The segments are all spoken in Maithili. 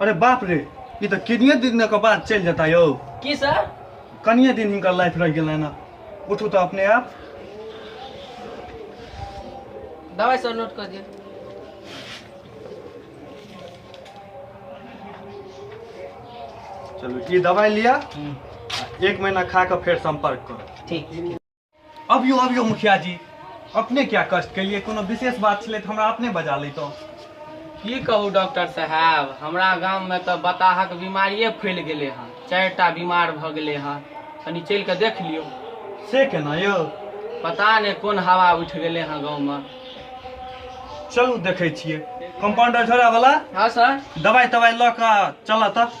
अरे बाप रे ई तऽ किनिये दिन के बाद चलि जेता यौ की सर कनिये दिन हिनकर लाइफ रहि गेलनि हँ उठू तऽ अपने आप दवाई सर नोट कर दिया चलू ई दवाइ लिअ एक महीना खा कऽ फेर संपर्क करू ठीक अबियो अबियो मुखिया जी अपने क्या कष्ट केलिए कोनो विशेष बात छलै तऽ हमरा अपने बजा लैतहुँ की कहू डॉक्टर साहब हमरा गाममे तऽ बताहक बीमारिए फैल गेलै हँ चारिटा बीमार भऽ गेलै हँ कनि चलि कऽ देख लियौ से केना यौ पता नहि कोन हवा उठि गेलै हँ गाँवमे चलू देखै छियै कम्पाउंडर झोरा वाला हँ सर दवाइ तवाइ लऽ कऽ चलऽ तऽ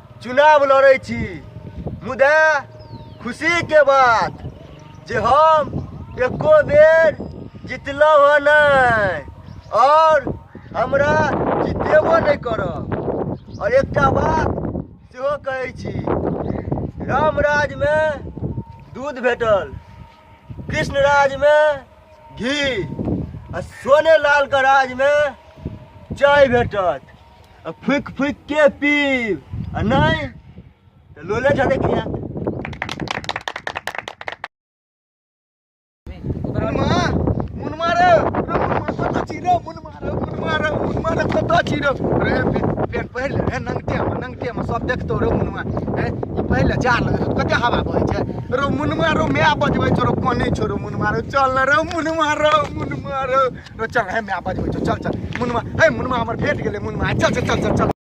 चुनाव लड़ै छी मुदा खुशीके बात जे हम एको बेर जितलहुँ हँ नहि आओर हमरा जितेबो नहि करब आओर एकटा बात सेहो कहै छी रामराजमे दूध भेटल कृष्ण राजमे घी आ सोने लालके राजमे चाय भेटत आ फुक फुक के पीब आ नहीं तो लोले ठके खिया मुनमा मुन मारे कत चिरो मुन मारे मुन मारे मुन मारे कत चिरो रे पेन पहिल रे नंगटे में नंगटे में सब देखतो रे मुनमा हे ई पहिल जा लगे कते हवा बहे छै रो मुनमा रो मैं बजबै छोरो कोने छोरो मुनमा रो चल रे मुनमा रो मुनमा रो रो चल हे माय बजबै छौ चल चल मुनमा हे मुनमा हमर भेट गेलै मुनमा आइ चल चल चल चल चल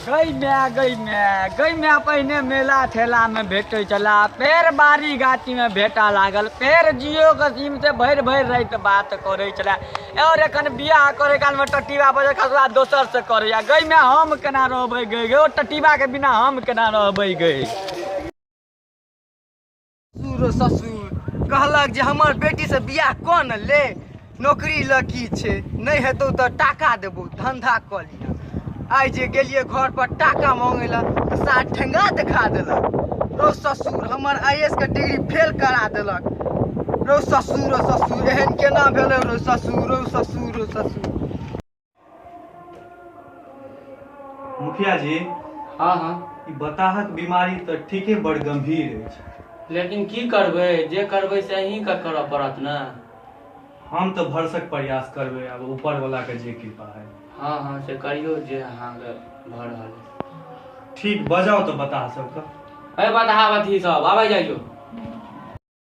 गई माय गई माय गई माय पहिने मेला ठेला में भेटै छला फेर बारी गाछी में भेटा लागल फेर जियो के सीम से भरि भरि रात बात करै छला और एखन बियाह करे काल में टटीबा बजे खसला दोसर से करैया गई माय हम केना रहबै गई गई ओ टटीबा के बिना हम केना रहबै गई ससुर ससुर कहलक जे हमर बेटीसँ बियाह कऽ ने ले नौकरी लऽ की छै नहि हेतौ तऽ टाका देबौ धंधा कऽ लिअ आइ जे गेलियै घर पर टाका मांगे लए तऽ सार ठेंगा देखा देलक रौ ससुर हमर आई एस के डिग्री फेल करा देलक रौ ससुर रौ ससुर एहन केना भेलै रौ ससुर रौ ससुर रौ ससुर मुखिया जी हँ हँ ई बताहक बीमारी तऽ ठीके बड़ गंभीर अछि लेकिन की करबै जे करबै से अहींके करऽ पड़त ने हम तऽ भरसक प्रयास करबै आब ऊपर वाला के जे कृपा है हँ हँ से करियौ जे अहाँके भऽ रहल अइ ठीक बजाउ तऽ बताह सबके अरे बताह अथी सब आबै जाइयो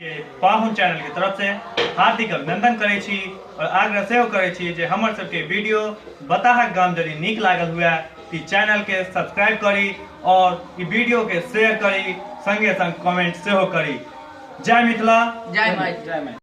के पाहुन चैनल के तरफ से हार्दिक अभिनंदन करै छी और आग्रह सेहो करै छी जे हमर सबके वीडियो बताहक गाम जदि नीक लागल हुए तऽ चैनल के सब्सक्राइब करी और ई वीडियो के शेयर करी संगे संग कमेंट सेहो करी जय मिथिला जय मैथिली जय मैथिली